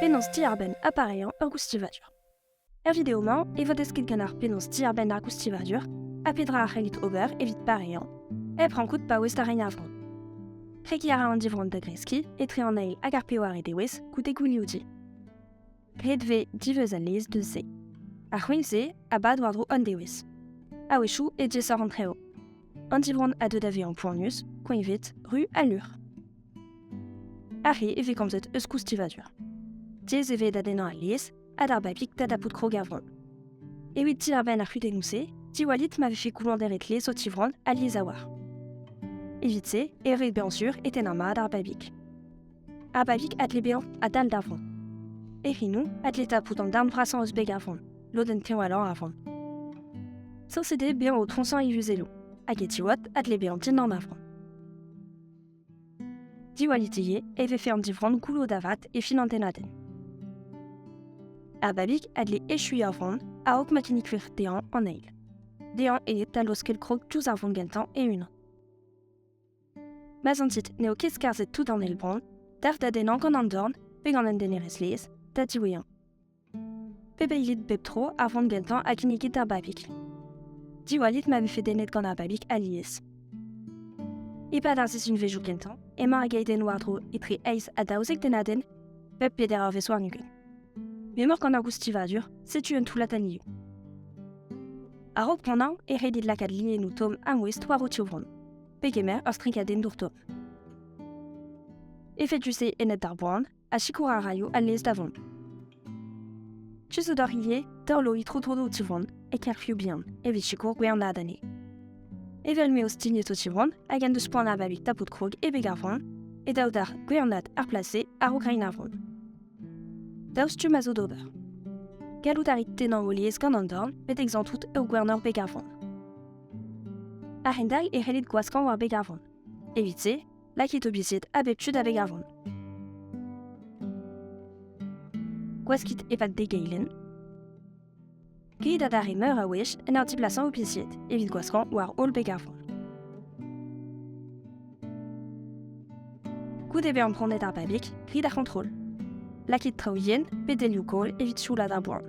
Penaos diarbenn ha pareañ ur goustivadur. Er video-mañ e vo desket ganeoc'h penaos diarbenn ar goustivadur ha petra a c'hellit ober evit pareañ hep rankout paouez da reiñ ar vro. Kregiñ a ra an divronn da greskiñ etre an eil hag ar pewar e dewez goude gounioudi. pet vez diweuz al lez deus se. Ar c'houign-se a bad war-dro an dewez. A-wechoù e diaesoc'h an treo. An divronn a deu da vezañ poanius, koeñvet, ru ha lur. Ar re e vez komzet eus koustivadur. Diaes e vez da dennañ al lez ha d'ar babig da dapout krog er vronn. Evit diarbenn ar c'hudennoù-se, diwallit ma vefe koullañderet lez o tivronn ha lies a-walc'h. Evit se e rit bezañ sur e tennañ mat ar babig. Ha Bavik a dle bezañ a-dal da vont. E c'hinoù a dle tapout an darn vrasañ eus beg ar vont, lodenn teñvalañ ar vont. Sañset eo bezañ o troñsañ e yuzelloù, hag e tiwad a dle bezañ dindan ar vont. Diwallit-ige e vefe an divronn goullo da vat e fin an tennadenn. Ar babig a dle echuiñ ar vont a-raok ma kinnig wir dezhañ an eil. Dezhañ eo da laoskel krog diouzh ar vont gentañ e-unan. Ma zantit n'eo ket skarzhet tout an eil bran, d'ac'h da dennañ gant an dorn pe gant un denerezh laezh da diwezhañ. Pebeilit bep tro ar vran gentañ ha kinnigit ar babig. Diwallit ma vefe dennet gant ar babig alies. E-pad ar sizhunvezhioù kentañ emañ ar geidenn war-dro etre eizh ha daouzek dennadenn bep peder eurvezh warn-ugent. M'emaoc'h gant ar goustivadur, setu un toullad anioù. A-raok poanañ e redit lakaat lienoù tomm ha mouest war ho tivronn. Pegemer ur strigadennour top. Efedus-se ennet d'ar boan, ha sikour a raio al lez da vont. Tu zo d'ar ivez, dorlo itro tro o tivron, e kerfioù bihan, evit sikour gwernad ane. Evel m'eo stignet o tivron, hag en deus poan avalik tapout krog e beg ar vran, e daou dar gwernad ar place ar Ukrain ar vran. Daou stumm a zo d'ober. Gallout a rit tennañ o lies gant an dorn, met exantout ur gwernor beg ar vran. A-hend-all e c'hellit gwaskañ war beg ar vran. Evit-se, lakit obizied a bep tu da veg ar vran. Gwaskit e-pad degeilenn. Grit adarre meur a wech en ur diblasañ obizied evit gwaskañ war holl beg ar vran. Goude bezañ prenet ar babig, grit ar c'hontrol. Lakit traoù yen pe delioù koll evit sioulaat ar boan.